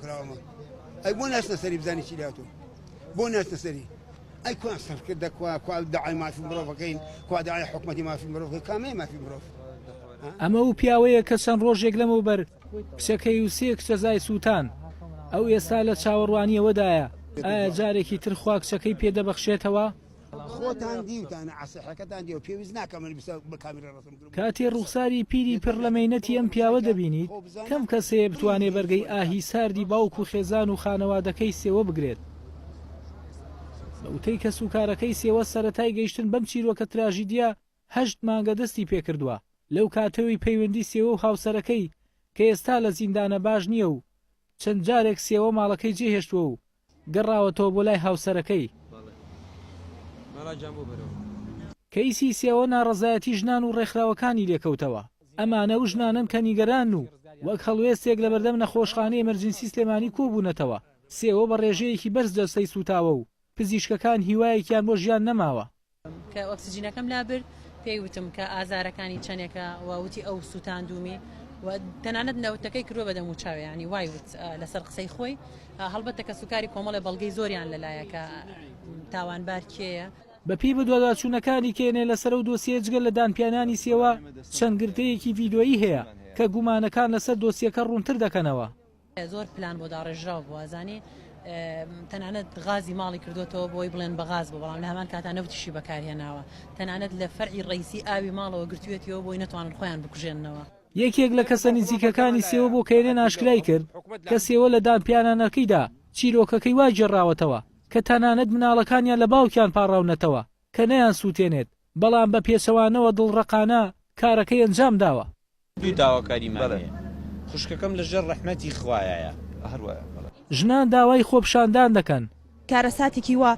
کراوە ئەی بۆ ناچنە سەری بزانی چی لاتۆ بۆ ناچنە سەری ئەی کوان سەرکرد دەکوا کوا داعای مافی مرۆڤەکەین کوا داعای حکومەتی مافی مرۆڤ کامەیە مافی مرۆڤ ئەمە و پیاوەیە کە چەند ڕۆژێک لەمەوبەر کچەکەی و سێ کچە زای سووتان ئەو ئێستا لە چاوەڕوانیەوەدایە ئایا جارێکی تر خوا کچەکەی پێدەبەخشێتەوە خۆتان دیوتانە عەسحەکەتان دیوە پێویست ناکە من بسە بە کامیرا ڕەسم کردم. کاتێ ڕوخساری پیری پر لە مەینەتی ئەم پیاوە دەبینیت کەم کەس هەیە بتوانێ بەرگەی ئاهی ساردی باوک و خێزان و خانەوادەکەی سێوە بگرێت. بە وتەی کەسوکارەکەی سێوە سەرەتای گەیشتن بەم چیرۆکە تراژیدیە هەشت مانگە دەستی پێکردوە لەو کاتەوی پەیوەندی سێوە و هاوسەرەکەی کە ئێستا لە زیندانە باش نیە و چەند جارێک سێوە ماڵەکەی جێهێشتوە و گەڕاوەتەوە بۆ لای هاوسەرەکەی. کەیسی سێوە ناڕەزایەتی ژنان و ڕێکخراوەکانی لێکەوتەوە، ئەمانە و ژنانەن کە نیگەرانن و وەک هەڵوێستێک لەبەردەم نەخۆشخانەی ئەمەرجنسی سلێمانی کۆبوونەتەوە، سێوە بە ڕێژەیەکی بەرز جەستەی سووتاوە و پزیشکەکان هیوایەکیان بۆ ژیان نەماوە. کە ئۆکسجینەکەم لابرد پێی وتم کە ئازارەکانی چەندێکە و وتی ئەو سووتاندومی و تەنانەت نەوتەکەی کرۆ بەدەم و چاویانی وای وت لەسەر قسەی خۆی هەڵبەتە کە سوکاری کۆمەڵی بەڵگەی زۆریان لەلایەکە تاوانبار کێیە بەپێی بەدواداچوونەکانی کێنێ لەسەر ئەو دۆسیەیە جگە لە دانپیانانی سێوا، چەند گرتەیەکی ڤیدۆیی هەیە کە گومانەکان لەسەر دۆسیەکە ڕوونتر دەکەنەوە. زۆر پلان بۆ داڕێژراو بوو ئەزانی تەنانەت غازی ماڵی کردوێتەوە بۆی بڵێن بە غاز بۆ بەڵام لە هەمان کاتا نەوتیشی بەکارهێناوە تەنانەت لە فەرعی ڕیسی ئاوی ماڵەوە گرتوێتیەوە بۆی نەتوانن خۆیان بکوژێننەوە. یەکێک لە کەسە نزیکەکانی سێوە بۆ کەیرێن ئاشکرای کرد کە سێوە لە دانپیانانەکەیدا چیرۆکەکەی وا گێڕاوەتەوە کە تەنانەت مناڵەکانیان لە باوکیان پاڕاونەتەوە کە نەیانسووتێنێت بەڵام بە پێچەوانەوە دڵڕەقانە کارەکەی ئەنجامداوە. دوو داواکاریمان هەیە خوشکەکەم لەژێر ڕەحمەتی خوایایە. ژنان داوای خۆپیشاندان دەکەن. کارەساتێکی وا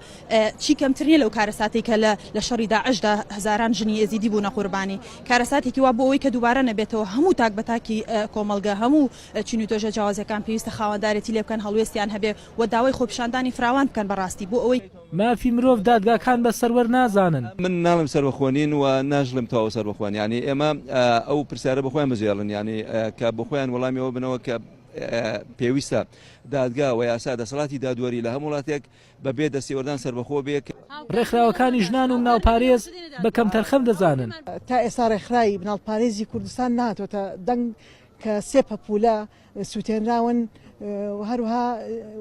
چی کەمتر نیە لەو کارەساتەی کە لە لە شەڕی داعشدا هەزاران ژنی ئێزیدی بوونە قوربانی، کارەساتێکی وا بۆ ئەوەی کە دووبارە نەبێتەوە هەموو تاک بە تاکی کۆمەڵگە هەموو چین و توێژە جیاوازەکان پێویستە خاوەندارێتی لێ بکەن هەڵوێستیان هەبێ و داوای خۆپیشاندانی فراوان بکەن بەڕاستی بۆ ئەوەی مافی مرۆڤ دادگاکان بە سەروەر نازانن. من ناڵێم سەربەخۆ نین و ناشڵێم تەواو سەربەخۆن یانی ئێمە ئەو پرسیارە بۆخۆیان بجێڵن یانی کە بۆخۆیان وەڵامی ئەوە بنەوە کە پێویستە دادگا و یاسا دەسەڵاتی دادوەری لە هەم وڵاتێک بە بێ دەستێوەردان سەربەخۆ بێ کە ڕێکخراوەکانی ژنان و مناڵپارێز بە کەمتەرخەم دەزانن. تا ئێستا ڕێکخراوی مناڵپارێزی کوردستان نەهاتۆتە دەنگ کە سێ پەپولە، سوتێنراون و هەروها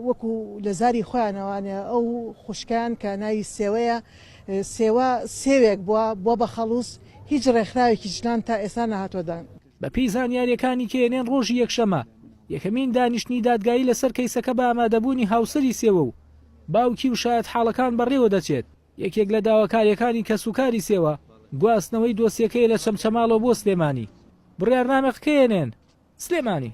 وەکو لە زاری خۆیانەوانێ ئەو خوشکیان کە ناوی سێوەیە سێوە سێوێک بووە بۆ بە خەڵوز هیچ ڕێکخراوێکی ژنان تا ئێستا نەهاتوە دان. بەپێی زانیارییەکانی کە ئێنێن ڕۆژی یەکشەمە یەکەمین دانیشتنی دادگایی لەسەر کەیسەکە بە ئامادەبوونی هاوسەری سێوە و باوکی و شایەتحاڵەکان بەڕێوەدەچێت. یەکێک لە داواکارییەکانی کەسوکاری سێوە، گواستنەوەی دۆسیەکەیە لە چەمچەماڵەوە بۆ سلێمانی. بڕیارنامە قکەیەنێن سلێمانی.